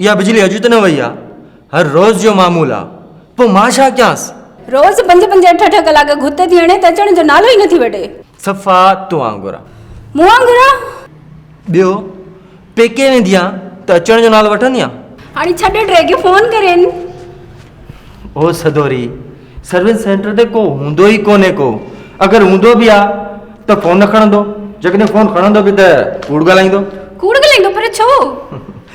اها بجلي اڄ ته نه وئي آ هر روز جو معمول آ پو مان ڇا ڪيانس. روز پنج پنج اٺ اٺ ڪلاڪ گهت ٿي هڻي ته اچڻ جو نالو ئي نه ٿي وٺي. صفا تو وانگر آ. مون وانگر آ؟ ٻيو پيڪي ويندي آ ته اچڻ جو نالو وٺندي آ. هاڻي ڇڏ ٽي کي فون ڪرين. او سدوري سروس سينٽر تي ڪو هوندو ئي ڪونهي ڪو اگر هوندو به آ ته فون نه کڻندو جيڪڏهن فون کڻندو به ته ڪوڙ ڳالهائيندو. ڪوڙ ڳالهائيندو پر ڇو؟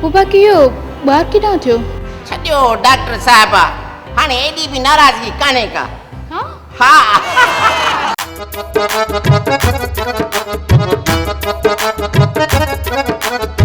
بابا ڪيو ٻار ڪيڏانهن ٿيو. ڇڏيو ڊاڪٽر صاحبه هاڻي ايڏي به ناراضگي ڪانهي ڪا. ها.